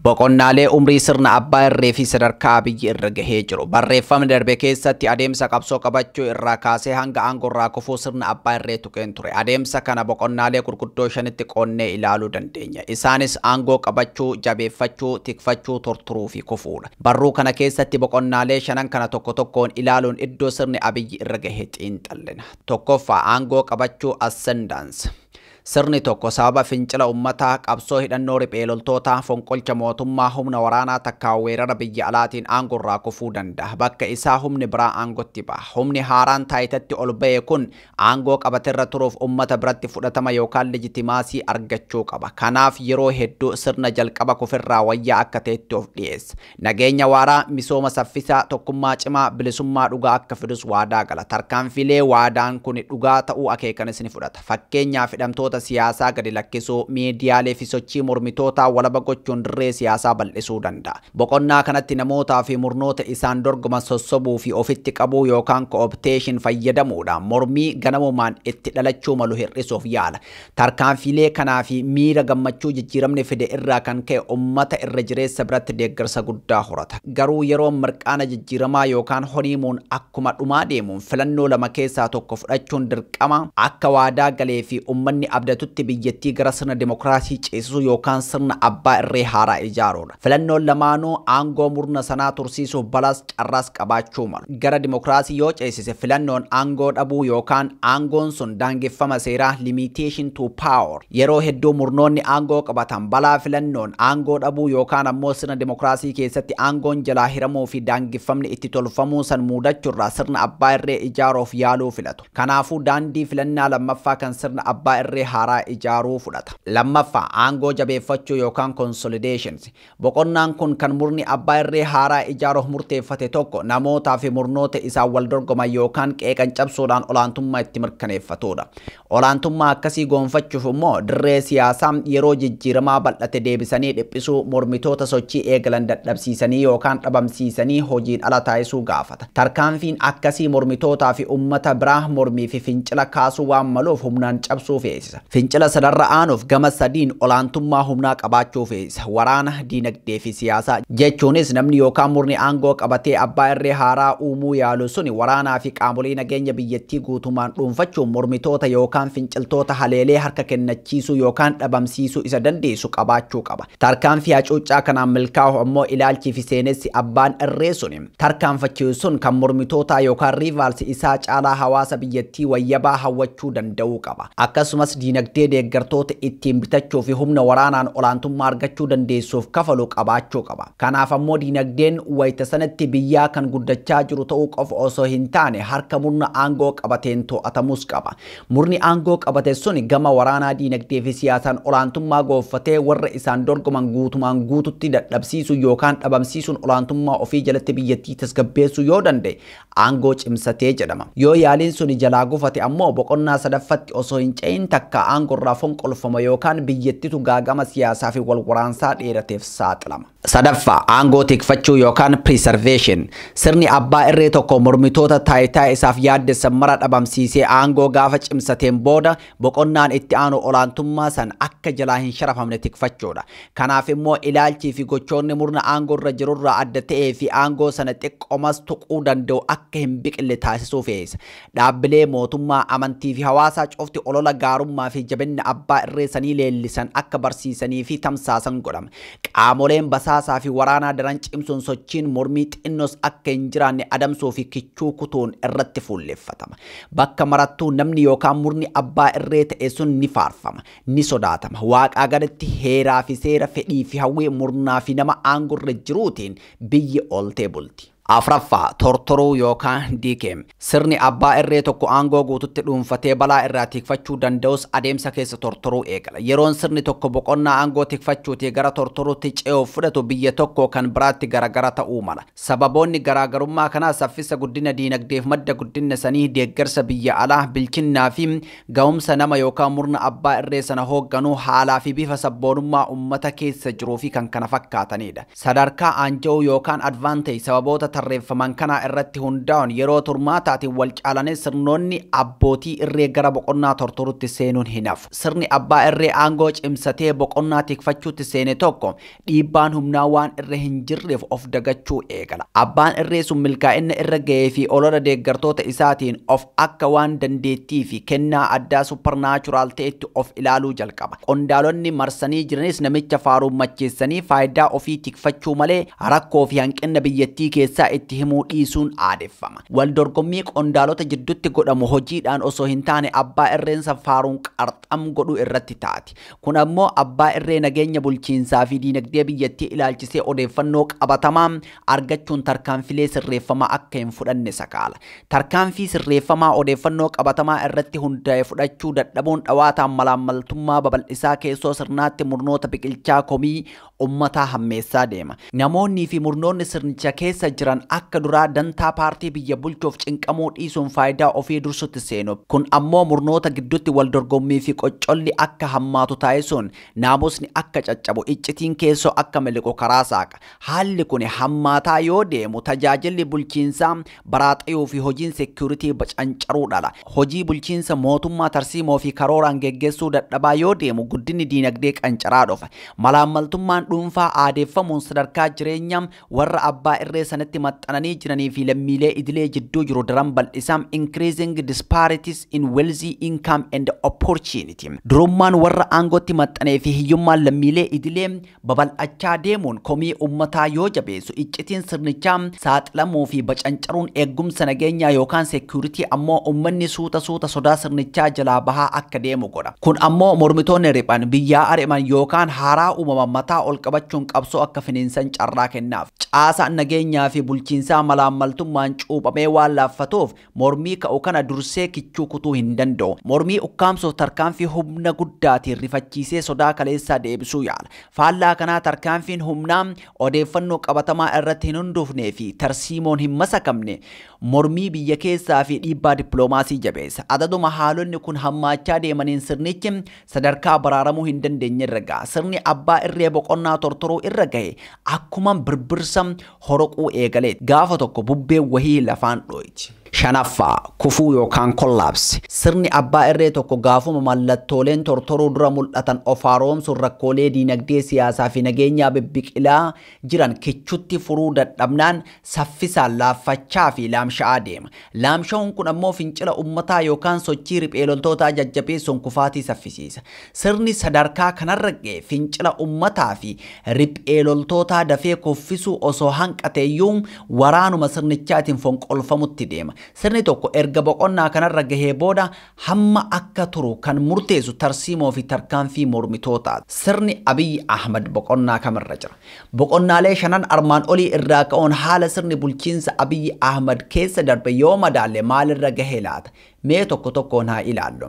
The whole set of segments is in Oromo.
Boqonnaalee umrii sirna abbaa irree fi sadarkaa Abiyyi irra gahee jiru. Barreeffamni darbe keessatti adeemsa qabsoo qabachuu irraa kaasee hanga aangoo irraa kufuu sirna abbaa irree tuqeen ture. Adeemsa kana boqonnaalee gurguddoo shanitti qoodnee ilaaluu dandeenya. Isaanis aangoo qabachuu, jabeeffachuu, tikfachuu, torturuu fi kufuudha. Barruu kana keessatti boqonnaalee shanan kana tokko tokkoon ilaaluun iddoo sirni Abiyyi irra gahe xiinxallina. Tokkoffaa, Aangoo qabachuu, Ascendance. Sirni tokko sababa fincila ummataa, qabsoo hidhannoo riphee loltootaa, fonqolcha mootummaa, humna waraanaa takkaa weerara biyya alaatiin aango irraa kufuu dandaha. Bakka isaa humni biraa aangotti baha. Humni haaraan taayitatti ol bahe kun aangoo qabate irra turuuf ummata biratti fudhatama yookaan legitimaasii argachuu qaba. Kanaaf yeroo hedduu sirna jalqaba kuferraa wayyaa akka tahetti of dhiyeessa. Nageenya waaraa, misooma saffisaa, tokkummaa cimaa, bilisummaa dhugaa akka fidus waadaa gala. Tarkaanfiilee waadaan kuni dhugaa ta'uu akeekanis ni fudhata. Fakkeenyaaf hidhamtoota siyaasaa gadi lakkisuu, miidiyaalee fi sochii mormitootaa walaba gochuun dirree siyaasaa bal'isuu danda'a. Boqonnaa kanatti namootaa fi murnoota isaan dorgoman sossobuu fi ofitti qabuu yookaan co-optation fayyadamuudhaan mormii ganamumaan itti dhalachuu malu hir'isuuf yaala. Tarkaanfiilee kanaa fi miira gammachuu jijjiiramni fide irraa kan ka'e ummata irra jireessa biratti deeggarsa guddaa horata. Garuu yeroon mirqaana jijjiiramaa yookaan honiimuun akkuma dhumaa deemuun filannoo lama keessaa tokko fudhachuun dirqama, akka waadaa galee fi ummanni abdatutti biyyattii gara sirna dimokiraasii ceesisuu yookaan sirna abbaa irree haaraa ijaaruu. Filannoon lamaanuu aangoo murna sanaa tursiisuuf balaas carraas qabaachuu malu. Gara dimokiraasii yoo ceesise filannoon aangoo dhabuu yookaan aangoon sun daangeffama seeraa, limitation to power, yeroo hedduu murnoonni aangoo qabatan balaa filannoon aangoo dhabuu yookaan ammoo sirna dimokiraasii keessatti aangoon jalaa hiramuu fi daangeffamni itti tolfamuu san muudachurraa sirna abbaa irree ijaaruuf yaaluu filatu. Kanaafuu daandii filannaa lammaffaa kan sirna abbaa irree haaraa ijaaruu fudhata. Lammaffaa, aangoo jabeeffachuu yookaan consolidations. Boqonnaan kun kan murni abbaa irree haaraa ijaaruuf murteeffate tokko namootaa fi murnoota isaan wal dorgoman yookaan qeeqan cabsuudhaan olaantummaa itti mirkaneeffatuudha. Olaantummaa akkasii goonfachuuf immoo dirree siyaasaa yeroo jijjiiramaa bal'ate deebisanii dhiphisuu, mormitoota sochii eegalan dadhabsiisanii yookaan dhabamsiisanii hojiin ala taasisuu gaafata. Tarkaanfiin akkasii mormitootaa fi ummata biraa mormii fi fincila kaasuu waan maluuf humnaan cabsuu feesisa. Fincila sanarra aanuuf gama sadiin olaantummaa humnaa qabaachuu feesisa, waraana, diinagdee fi siyaasaa. Jechuunis namni yookaan murni aangoo qabatee abbaa irree haaraa uumuu yaalu suni waraanaa fi qaamolee nageenya biyyattii guutumaan dhuunfachuun mormitoota yookaan finciltoota haleelee harka kennachiisuu yookaan dhabamsiisuu isa dandeessisu qabaachuu qaba. Tarkaanfii hacuuccaa kanaan milkaa'uuf ammoo ilaalchii fi seenessi abbaan irree suni. tarkaanfachiisu sun kan mormitootaa yookaan rivals isaa caalaa hawaasa biyyattii wayyabaa hawwachuu danda'uu qaba. Akkasumas diinagdee deeggartoota ittiin bitachuu fi humna waraanaan olaantummaa argachuu dandeessuuf kafalu qabaachuu qaba. Kanaaf ammoo diinagdeen wayita sanatti biyyaa kan guddachaa jiru ta'uu qofa osoo hin taane harka murna aangoo qabateen too'atamuus qaba. Murni aangoo qabate sun gama waraanaa, diinagdee fi siyaasaan olaantummaa goonfatee warra isaan dorgoman guutumaan guututti dadhabsiisuu yookaan dhabamsiisuun olaantummaa ofii jalatti biyyattii tasgabbeessuu yoo danda'e aangoo cimsatee jedhama. Yoo yaaliin suni jalaa gufate ammoo boqonnaa sadaffatti osoo hin ce'in takkaa aangorraa fonqolfama yookaan biyyattitu gaaga'ama siyaasaa fi wal waraansaa dheerateef saaxilama. Sadaffaa, aangoo tikfachuu yookaan preservation. Sirni abbaa irree tokko mormitoota taayitaa isaaf yaaddessan mara dhabamsiisee aangoo gaafa cimsateen booda boqonnaan itti aanu olaantummaa san akka jalaa hin sharafamne tikfachuudha. Kanaaf immoo ilaalchii fi gochoonni murna aangoo irra jiru irraa adda ta'ee fi aangoo sana xiqqomas tuquu danda'u akka hin biqille taasisuu feesa. Dhaabbilee mootummaa, amantii fi hawaasaa cufti olola gaarummaa fi jabinna abbaa irree sanii leellisan akka barsiisanii fi tamsaasan godhama. Qaamoleen basaasaa fi waraanaa daran cimsuun sochiin mormii xinnoos akka hin jiraanne adamsuu fi kichuu kutuun irratti fuulleffatama. Bakka marattuu namni yookaan murni abbaa irree ta'e sun ni faarfama, ni sodaatama. Waaqaa gaditti heeraa fi seera, fedhii fi hawwii murnaa fi nama aangorra jiruutiin biyyi ooltee bulti. Afraffaa, Tortoruu yookaan Decay. Sirni abbaa irree tokko aangoo guututti dhuunfatee balaa irraa tiikfachuu danda'us adeemsa keessa tortoruu eegala. Yeroon sirni tokko boqonnaa aangoo tikfachuutii gara tortoruutti ce'uuf fudhatu biyya tokkoo kan biraatti garagara ta'uu mala. Sababoonni garaagarummaa kanaa saffisa guddina diinagdeef madda guddinna sanii, deeggarsa biyya alaa, bilchinnaa fi gahumsa nama yookaan murna abbaa irree sana hoogganuu, haalaa fi bifa sabboonummaa ummata keessa jiruu fi kkf dha. Sadarkaa aanja'uu yookaan advantage sababoota tarreeffaman kanaa irratti hundaa'uun yeroo turmaataatiin wal caalanii sirnoonni abbootii irree gara boqonnaa tortoruutti seenuun hin hafu. Sirni abbaa irree aangoo cimsatee boqonnaa tikfachuutti seene tokko dhiibbaan humnaa waan irra hin jirreef of dagachuu eegala. Abbaan irree sun milkaa'inna irra gahee fi olola deeggartoota isaatiin of akka waan dandeettii fi kennaa addaa supernatural ta'etti of ilaaluu jalqaba. Qondaalonni marsanii jiranis namicha faaruun macheessanii faayidaa ofii tikfachuu malee rakkoo fi hanqinna biyyattii keessaa itti himuu dhiisuun aadeffama. Wal dorgommii qondaalota jiddutti godhamu hojiidhaan osoo hin taane abbaa irreen san faaruun qarxam godhuu irratti taati. Kun ammoo abbaa irree nageenya bulchiinsaa fi diinagdee biyyattii ilaalchisee odeeffannoo qabatamaa argachuun tarkaanfilee sirreeffamaa akka hin fudhanne sakaala. Tarkaanfii sirreeffamaa odeeffannoo qabatamaa irratti hundaa'e fudhachuu dadhabuun dhawaataan malaammaltummaa babal'isaa keessoo sirnaatti murnoota biqilchaa komii ummataa hammeessaa deema. Namoonnii fi murnoonni sirnicha keessa jiran akka duraa dantaa paartii biyya bulchuuf cinqamuu dhiisuun faayidaa ofii dursutti seenu. Kun ammoo murnoota gidduutti wal dorgommii fi qoccolli akka hammaatu taasisuun naamusni akka caccabu, iccitiin keessoo akka miliqu karaa saaqa. Haalli kuni hammaataa yoo deemu tajaajilli bulchiinsaa baraaxayuu fi hojiin security bacancaruudha ala hojii bulchiinsa mootummaa tarsiimoo fi karooraan geggeessuu dadhabaa yoo deemu guddinni diinagdee qancaraa dhufa. Malaammaltummaan dhuunfaa aadeeffamuun sadarkaa jireenyaam warra abbaa irree sanatti maxxananii jiranii fi lammiilee idilee jidduu jiru daran bal'isaam increasing disparities in wealthy income and opportunity. Durummaan warra aangootti maxxanee fi hiyyummaan lammiilee idilee babal'achaa deemuun komii ummataa yoo jabeessu iccitiin sirnichaa saaxilamuu fi bacancaruun eeggumsa nageenyaa yookaan security ammoo ummanni suuta suuta sodaa sirnichaa jalaa bahaa akka deemu godha. Kun ammoo mormitoonni riphan, biyyaa ari'man yookaan haaraa uumaman mataa ol qabachuun qabsoo akka finiinsan carraa kennaaf. Caasaan nageenyaa fi bulchiinsaa malaammaltummaan cuuphamee waan laaffatuuf Mormii ka'u kana dursee kichuu kutuu hin danda'u. Mormii ukkaamsuuf tarkaanfii humna guddaatiin rifachiisee sodaa kaleessaa deebisuu yaala. Faallaa kanaa tarkaanfiin humnaa odeeffannoo qabatamaa irratti hin hundoofnee fi tarsiimoon hin masakamne mormii biyya keessaa fi dhiibbaa dippiloomaasii jabeessa. Adaduma haalonni kun hammaachaa deemaniin sirnichi sadarkaa baraaramuu hin dandeenye irra ga'a. Sirni abbaa irree boqonnaa tortoruu irra gahe akkuman birbirsa horoquu eegaleet. Gaafa tokko bubbeen wahii lafaan dhooyti. 5ffaa, Kufuu yookaan Collapse. Sirni abbaa irree tokko gaafuma mallattooleen tortoruu dura mul'atan of haaroomsuun rakkoolee diinagdee, siyaasaa fi nageenyaa bibbiqilaa jiran kichutti furuu dadhabnaan saffisaan laaffachaa fi laamsha'aa deema. Laamsha'uun kun ammoo fincila ummataa yookaan sochii riphee loltootaa jajjabeessuun kufaatii saffisiisa. Sirni sadarkaa kanarra ga'e fincila ummataa fi riphee loltootaa dafee kuffisuu osoo hanqateeyyuu waraanuma sirnichaatiin fonqolfamutti deema. Sirni tokko erga boqonnaa kanarra gahee booda hamma akka turu kan murteessu tarsiimoo fi tarkaanfii mormitootaa sirni Abiy Ahmad boqonnaa kam irra jira? Boqonnaalee shanan armaan olii irraa ka'uun haala sirni bulchiinsa Abiy Ahmad keessa darbe yoo madaalle maal irra gahe laata? Mee tokko tokkoon haa ilaallu.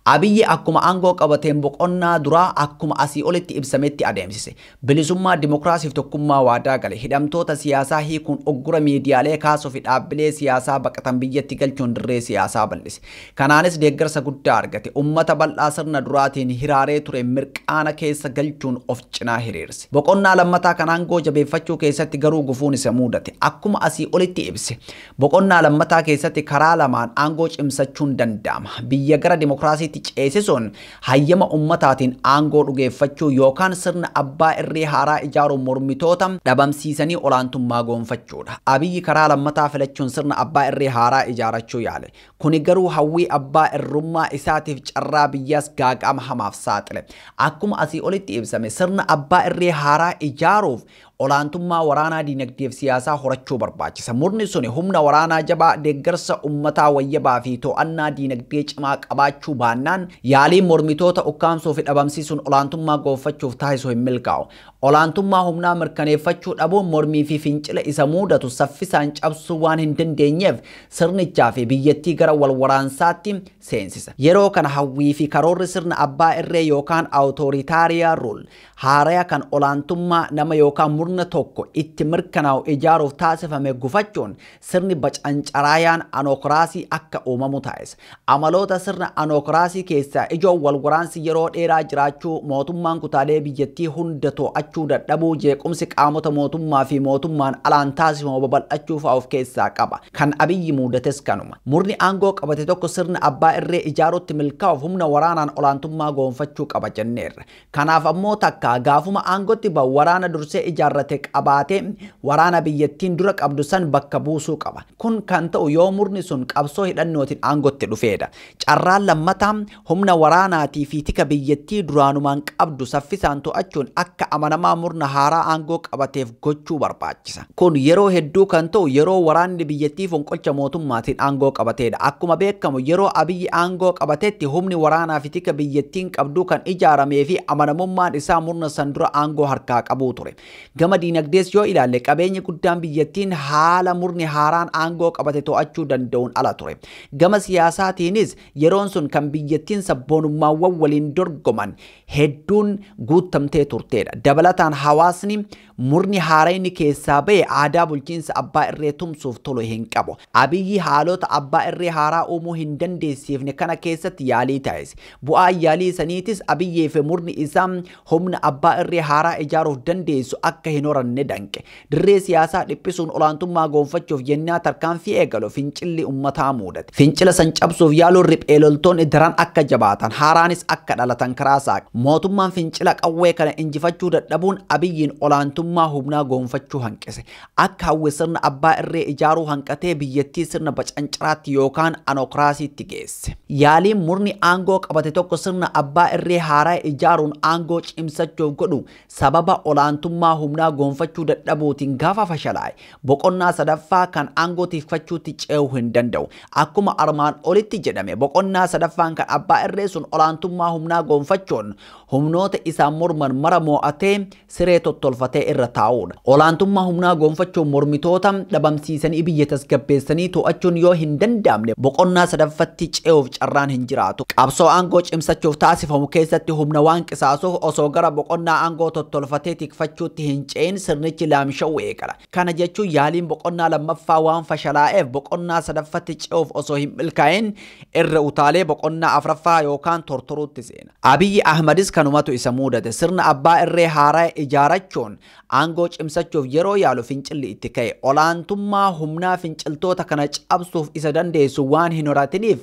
Abiy akkuma aangoo qabateen boqonnaa duraa akkuma asii olitti ibsametti adeemsise. Bilisummaa, Dimokiraasii fi Tokkummaa waadaa gale, hidhamtoota siyaasaa hiikuun uggura miidiyaalee kaasuu fi dhaabbilee siyaasaa baqatan biyyatti galchuun dirree siyaasaa bal'ise. Kanaanis deeggarsa guddaa argate. Ummata bal'aa sirna duraatiin hiraaree ture mirqaana keessa galchuun of cinaa hiriirse. Boqonnaa lammataa kan aangoo jabeeffachuu keessatti garuu gufuun isa muudate. Akkuma asii olitti ibse, boqonnaa lammataa keessatti karaa lamaan aangoo cimsachuun danda'ama. Biyya gara dimokiraasiitti ceesisuun hayyama ummataatiin aangoo dhugeeffachuu yookaan sirna abbaa irree haaraa ijaaruun mormitoota dhabamsiisanii olaantummaa goonfachuudha. Abiy karaa lammataa filachuun sirna abbaa irree haaraa ijaarachuu yaale. Kuni garuu hawwii abbaa irrummaa isaatiif carraa biyyaas gaaga'ama hamaaf saaxile. Akkuma asii olitti ibsame sirna abbaa irree haaraa ijaaruuf olaantummaa waraanaa diinagdeef siyaasaa horachuu barbaachisa. Murni suni humna waraanaa jabaa, deeggarsa ummataa wayyabaa fi to'annaa diinagdee cimaa qabaachuu baannaan yaaliin mormitoota ukkaamsuu fi dhabamsiisuun olaantummaa goonfachuuf taasisu hin milkaa'u. Olaantummaa humnaa mirkaneeffachuu dhabuun mormii fi fincila isa muudatu saffisaan cabsuu waan hin dandeenyeef sirnichaa fi biyyattii gara wal waraansaatti seensisa. Yeroo kana hawwii fi karoorri sirna abbaa irree yookaan autoritaria rule haaraya kan olaantummaa nama yookaan murna tokko itti mirkanaa'u ijaaruuf taasifame gufachuun sirni bacancaraayaan anookraasii akka uumamu taasisa. Amaloota sirna anookraasii keessaa ijoon walwaraansi yeroo dheeraa jiraachuu, mootummaan kutaalee biyyattii hunda to'achuu dadhabuu, jeequmsi qaamota mootummaa fi mootummaan alaan taasifamu babal'achuu fa'a of keessaa qaba. Kan Abiyyi muudates kanuma. Murni aangoo qabate tokko sirna abbaa irree ijaaruutti milkaa'uuf humna waraanaan olaantummaa goonfachuu qaba jenneerra. Kanaaf ammoo takka gaafuma aangotti ba'u waraana dursee ijaarrate qabaatee waraana biyyattiin dura qabdu san bakka buusuu qaba. Kun kan ta'u yoo murni sun qabsoo hidhannootin aangotti dhufeedha. Carraan lammataa humna waraanaatii fi tika biyyattii duraanumaan qabdu saffisaan to'achuun akka amanamaa murna haaraa aangoo qabateef gochuu barbaachisa. Kun yeroo hedduu kan ta'u yeroo waraanni biyyattii fonqolcha mootummaatiin aangoo qabateedha. Akkuma beekamu yeroo Abiyyi aangoo qabatetti humni waraanaafi tika biyyattiin qabdu kan ijaarameefi amanamummaan isaa murna san dura aangoo harkaa qabuu ture. Gama diinagdees yoo ilaalle qabeenyi guddaan biyyattiin haala murni haaraan aangoo qabate to'achuu danda'uun ala ture. Gama siyaasaatiinis yeroon sun kan biyyattiin sabboonummaawwan waliin dorgoman hedduun guuttamtee turteedha. Dabalataan hawaasni Murni haarayni keessaa bahe aadaa bulchiinsa abbaa irree tumsuuf tolu hin qabu. Abiyyi haalota abbaa irree haaraa uumuu hin dandeessiifne kana keessatti yaalii taasise. Bu'aan yaalii saniitis Abiyyii fi murni isaa humna abbaa irree haaraa ijaaruuf dandeessu akka hin horanne danqe. Dirree siyaasaa dhiphisuun olaantummaa goonfachuuf yennaa tarkaanfii eegalu fincilli ummataa muudate. Fincila san cabsuuf yaaluun riphee loltoonni daran akka jabaatan, haaraanis akka dhalatan karaa saaqe. Mootummaan fincila qawwee kana injifachuu dadhabuun Abiyyiin olaantummaa humnaa goonfachuu hanqise. Akka hawwe sirna abbaa irree ijaaruu hanqatee biyyattii sirna bacancaraatti yookaan anokraasiitti geesse. Yaaliin murni aangoo qabate tokko sirna abbaa irree haaraa ijaaruun aangoo cimsachuuf godhu sababa olaantummaa humnaa goonfachuu dadhabuutiin gaafa fashalaa'e boqonnaa sadaffaa kan aangoo tikfachuutti ce'uu hin danda'u. Akkuma armaan olitti jedhame boqonnaa sadaffaan kan abbaa irree sun olaantummaa humnaa goonfachuun humnoota isaan morman mara moo'atee siree tottolfatee irra taa'uudha. Olaantummaa humnaa goonfachuun mormitoota dhabamsiisanii biyya tasgabbeessanii too'achuun yoo hin danda'amne boqonnaa sadaffatti ce'uuf carraan hin jiraatu. Qabsoo aangoo cimsachuuf taasifamu keessatti humna waan qisaasuuf osoo gara boqonnaa aangoo tottolfatee tikfachuutti hin ce'in sirnichi laamsha'uu eegala. qala. Kana jechuun yaaliin boqonnaa lammaffaa waan fashalaa'eef boqonnaa sadaffatti ce'uuf osoo hin milkaa'in irra utaalee boqonnaa afraffaa yookaan tortoruutti seena. Abiyyi Ahmadis kanumatu isa muudate. Sirna abbaa irree haaraya ijaarachuun aangoo cimsachuuf yeroo yaalu fincilli itti ka'e. Olaantummaa humnaa finciltoota kana cabsuuf isa dandeessu waan hin horatiniif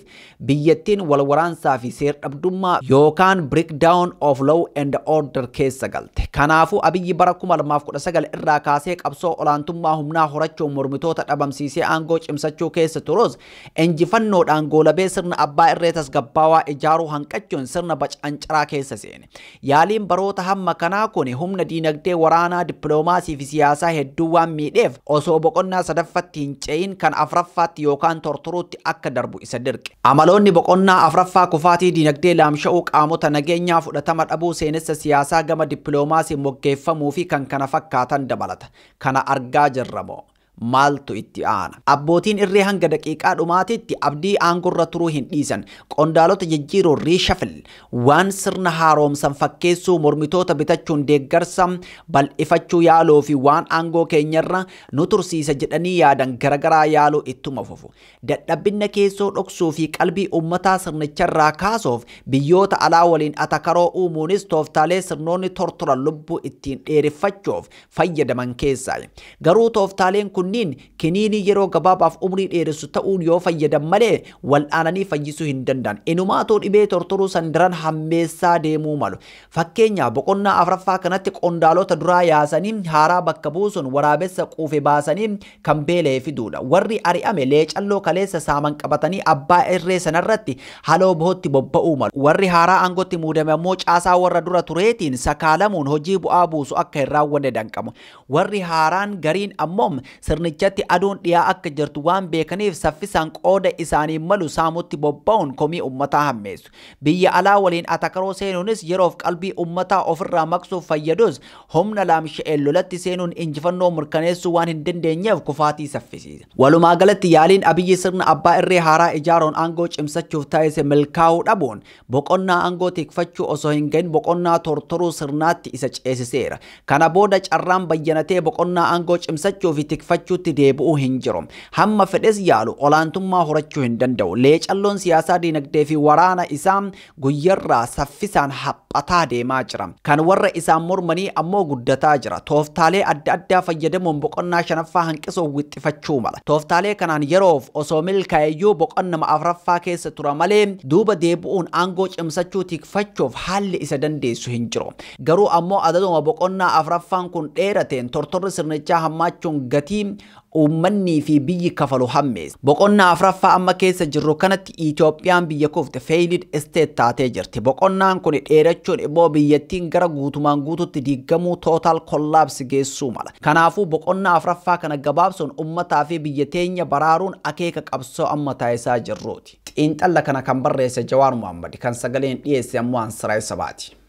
biyyattiin wal waraansaa fi seer-dhabdummaa yookaan breakdown of law and order keessa galte. Kanaafuu Abiyyi bara 2019 irraa kaasee qabsoo olaantummaa humnaa horachuun mormitoota dhabamsiisee aangoo cimsachuu keessa turus, injifannoodhaan goolabee sirna abbaa irree tasgabbaawaa ijaaruu hanqachuun sirna bacancaraa keessa seene. Yaaliin baroota hamma kanaa kuni humna diinagdee, waraanaa, dippiloomaasii fi siyaasaa hedduu waan miidheef osoo boqonnaa sadaffatti hin ce'in kan afraffaatti yookaan tortoruutti akka darbu isa dirqe. Amaloonni boqonnaa afraffaa kufaatii diinagdee, laamsha'uu qaamota nageenyaa, fudhatama dhabuu seenessa siyaasaa gama dippiloomaasiin moggeeffamuu fi kan kana fakkaatan dabalata. Kana argaa jirra moo? Maaltu itti aana? Abbootiin irree hanga daqiiqaa dhumaatiitti Abdii aangorra turuu hin dhiisan. Qondaalota jijjiiruun, reshuffle, waan sirna haaroomsan fakkeessuu, mormitoota bitachuun deeggarsa bal'ifachuu yaaluu fi waan aangoo keenyarra nu tursiisa jedhanii yaadan garagaraa yaaluu ittuma fufu. Dadhabbinna keessoo dhoksuu fi qalbii ummataa sirnicharraa kaasuuf biyyoota alaa waliin atakaroo uumuunis tooftaalee sirnoonni tortoran lubbuu ittiin dheereffachuuf fayyadaman keessaayi. Garuu tooftaaleen kunniin kiniinii yeroo gabaabaaf umrii dheeressu ta'uun yoo fayyadan malee wal'aananii fayyisuu hin danda'an. Inumaatuu dhibee tortoruu san daran hammeessaa deemuu malu. Fakkeenyaaf boqonnaa afraffaa kanatti qondaalota duraa yaasanii haaraa bakka buusuun waraabessa quufe baasanii kan beela'e fiduudha. Warri ari'ame leecalloo kaleessa saaman qabatanii abbaa irree sanarratti haloo bohootti bobba'uu malu. Warri haaraa aangootti muudame ammoo caasaa warra dura tureetiin sakaalamuun hojii bu'aa buusu akka hin raawwanne danqamu. Warri haaraan gariin ammoo sirnichatti aduun dhiyaa akka jirtu waan beekaniif saffisaan qooda isaaniif malu saamutti bobba'uun komii ummataa hammeessu. Biyya alaa waliin atakaroo seenuunis yeroof qalbii ummataa ofirraa maqsuuf fayyadus, humna laamsha'een lolatti seenuun injifannoo mirkaneessuu waan hin dandeenyeef kufaatii saffisiisa. Walumaagalatti yaaliin Abiyyi sirna abbaa irree haaraa ijaaruun aangoo cimsachuuf taasise milkaa'uu dhabuun, boqonnaa aangoo tikfachuu osoo hin gahin boqonnaa tortoruu sirnaatti isa ceesiseera. Kana booda carraan bayyanatee boqonnaa aangoo cimsachuu fi tikfachuutti deebi'u hin jiru. Hamma fedhes yaalu olaantummaa horachuu hin danda'u. Leecalloon siyaasaa diinagdee fi waraana isaa guyyarraa saffisaan haphataa deemaa jira. Kan warra isaan mormanii ammoo guddataa jira. Tooftaalee adda addaa fayyadamuun boqonnaa shanaffaa hanqisuuf wixxifachuu mala. Tooftaalee kanaan yeroof osoo milkaa'eyyuu boqonnama afraffaa keessa tura malee duuba deebi'uun aangoo cimsachuu tikfachuuf haalli isa dandeessu hin jiru. Garuu ammoo adaduma boqonnaa afraffaan kun dheerateen tortorri sirnichaa hammaachuun gatii uummannii fi biyyi kafalu hammeesse. Boqonnaa afraffaa amma keessa jirru kanatti Itoophiyaan biyya kufte, failed state, taatee jirti. Boqonnaan kuni dheerachuun immoo biyyattiin gara guutumaan guututti diiggamuu, total collapse, geessuu mala. Kanaafuu boqonnaa afraffaa kana gabaabsuun uummataa fi biyya teenya baraaruun akeeka qabsoo amma taasisaa jirruuti. Xiinxalla kana kan barreesse Jawaar Mohaammadi, kan sagaleen dhiyeesse ammoo an Siraaj Sabaati.